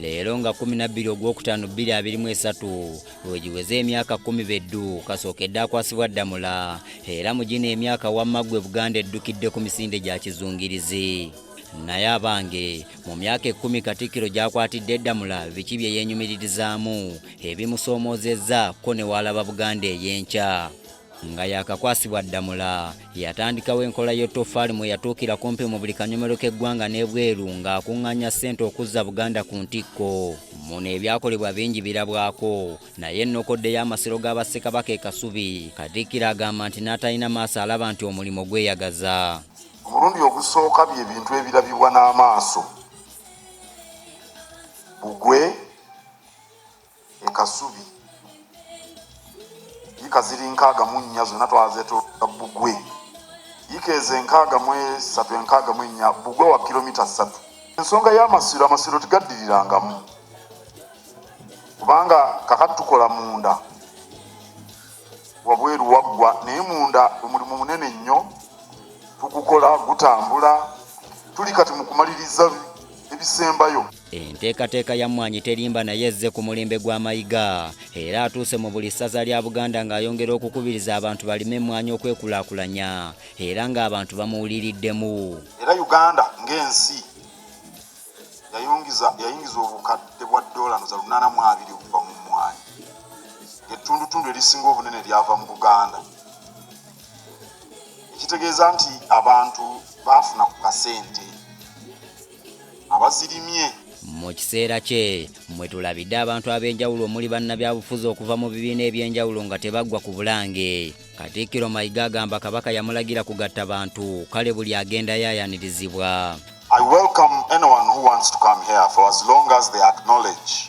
leero nga kumi nabbiri ogwokutaano bbiri abiri mu esatu wegiweze emyaka kumi beddu kasookedde akwasibwa ddamula era mu gino emyaka wamma gwe buganda eddukidde ku misinde gya kizungirizi naye abange mu myaka ekkumi katikkiro gyakwatidde eddamula biki bye yeenyumiririzaamu ebimusoomoozezza ko ne waalaba buganda ey'enkya nga yakakwasibwa Ddamula yatandikawo enkola y'ettoffaali mwe yatuukira kumpi mu buli kanyomero k'eggwanga n'ebweru ng'akuŋŋaanya ssente okuzza Buganda ku ntikko muno ebyakolebwa bingi birabwako naye ennokoddeyo amasiro ga bassekabaka e Kasubi Katikkiro agamba nti n'atalina maaso alaba nti omulimu gweyagaza omulundi ogusooka bye bintu ebirabibwa n'amaaso bugwe e Kasubi yika ziri nkaaga mu nnya zonna twazeetoolola bbugwe yika ezo enkaaga mu esatu enkaaga mu ennya bbugwe wa kilomita ssatu ensonga y'amasiro amasiro tigaddirirangamu kubanga kakati tukola munda wabweru waggwa naye munda omulimu munene nnyo tugukola gutambula tuli kati mu kumaliriza ebisembayo Enteekateeka ya Mmwanyi Terimba naye ezze ku mulembe gwa Mayiga era atuuse mu buli ssaza lya Buganda ng'ayongera okukubiriza abantu balime emmwanyi okwekulaakulanya era ng'abantu bamuwuliriddemu. Era Uganda ng'ensi yayingiza obukadde bwa ddoola za lunaana mu abiri okuva mu mmwanyi ettundutundu erisinga obunene lyava mu Buganda ekitegeeza nti abantu baafuna ku kasente. abazirimye mu kiseera kye mwe tulabidde abantu ab'enjawulo omuli bannabyabufuzi okuva mu bibiina eby'enjawulo nga tebaggwa ku bulange katikkiro mayiga agamba kabaka yamulagira kugatta bantu kale buli agendayo ayanirizibwa I welcome anyone who wants to come here for as long as they acknowledge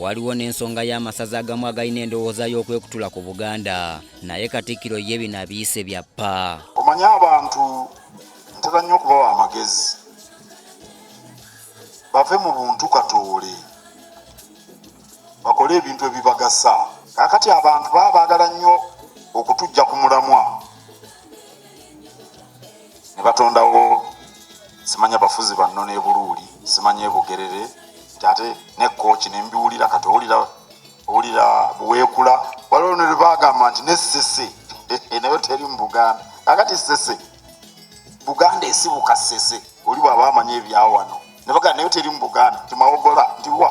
Waliwo n'ensonga y'amasaza agamu agalina endowooza y'okwekutula ku Buganda naye Katikkiro ye bino abiyise bya ppa. Omanyi abantu ntera nnyo okubawa amagezi bave mu buntu katoole bakole ebintu ebibagasa. Kaakati abantu baba baagala nnyo okutujja ku mulamwa. ne batondawo simanya bafuzi banno n'ebuluuli simanya ebugerere nti ate nekkooki ne mbiwulira kati owulira owulira buweekula waliwo ne lwebagamba nti nessese nayo teri mu buganda kakati ssese buganda esibuka ssese oli bwaba amanyi ebyawano ne bagamba nayo teri mu buganda timawogola nti wa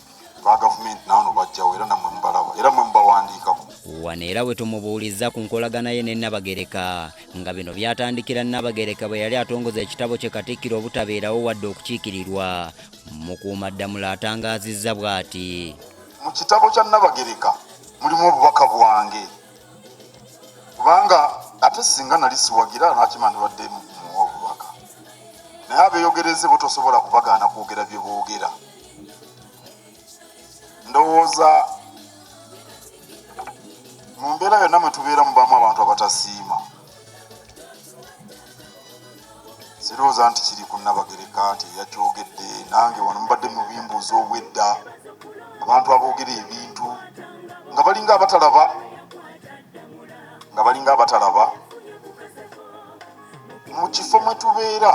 ba gavumenti naano bajjawo era namwe mubalaba era mwe mubawandiikako wano era we tumubuulizza ku nkolagana ye ne Nabagereka nga bino byatandikira Nabagereka bwe yali atongoza ekitabo kye Katikkiro obutabeerawo wadde okukiikirirwa Mukuumaddamula atangaazizza bw'ati mu kitabo kya Nabagereka mulimu obubaka bwange kubanga ate singa nali siwagira nakima ndibadde muwa obubaka naye abeeyogereze bo tosobola kubagaana kwogera bye boogera ndowooza mu mbeera yonna mwe tubeera mubamu abantu abatasiima sirowooza nti kiri ku nabagereka nti yakyogedde nange wano mubadde mubimbuuza obwedda abantu aboogera ebintu nga balinga abatalaba nga balinga abatalaba mu kifo mwe tubeera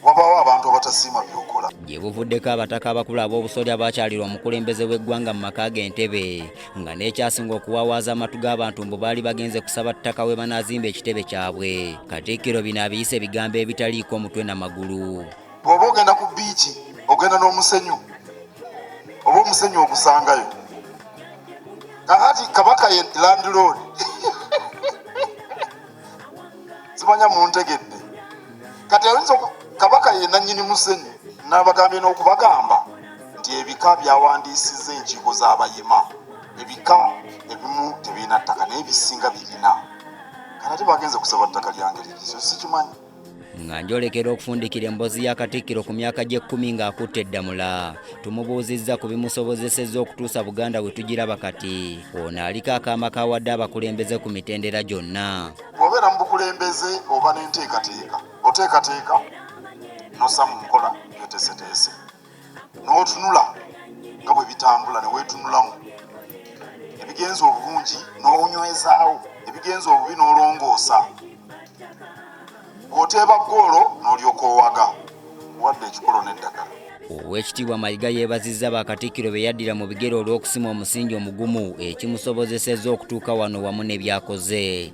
wabaawo abantu abatasiima byokola gye buvuddeko abataka abakulu ab'obusolya baakyalirwa omukulembeze w'eggwanga mu maka ge entebe nga n'ekyasinga okuwawaaza amatu g'abantu mbu baali bagenze kusaba ttaka we banaazimba ekitebe kyabwe katikkiro bino abiyise ebigambo ebitaliiko mutwe na magulu bw'oba ogenda ku biiki ogenda n'omusenyu oba omusenyu ogusangayo kakati kabaka ye landlord simanya muntegedde kati ayinza kabaka ye nanyini musenyu nabagambye n'okubagamba nti ebika byawandiisiza enkiiko z'abayima ebika ebimu tebirina ttaka naye bisinga birina kanate bagenze kusaba ttaka lyange lirizo sikimanyi nga njolekera okufundikira emboozi ya katikkiro ku myaka gy'ekkumi ng'akutte eddamula tumubuuzizza ku bimusobozesezza okutuusa buganda we tugiraba kati ono aliko akaama kawadde abakulembeze ku mitendera gyonna obeera mu bukulembeze oba n'enteekateeka oteekateeka nossa mu nkola byoteeseteese n'otunula nga bwe bitambula ne weetunulamu ebigenza obulungi n'onywezaawo ebigenza obubi n'olongoosa bw'oteeba ggoolo n'olyoka owaga wadde ekikolo n'eddagala Oweekitiibwa Mayiga yeebazizza ba Katikkiro be yaddira mu bigere olw'okusima omusingi omugumu ekimusobozesezza okutuuka wano wamu ne byakoze.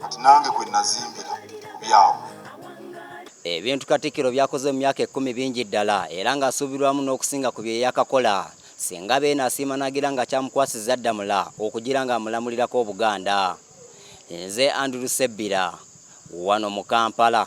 kati nange kwe nazimbira ku byabwe. Ebintu Katikkiro by'akoze mu myaka ekkumi bingi ddala era ng'asuubirwamu n'okusinga ku bye yakakola singa Beene asiima n'agira nga kyamukwasizza Ddamula okugira ng'amulamulirako Obuganda. Nze Andrew Ssebbira wano mu Kampala.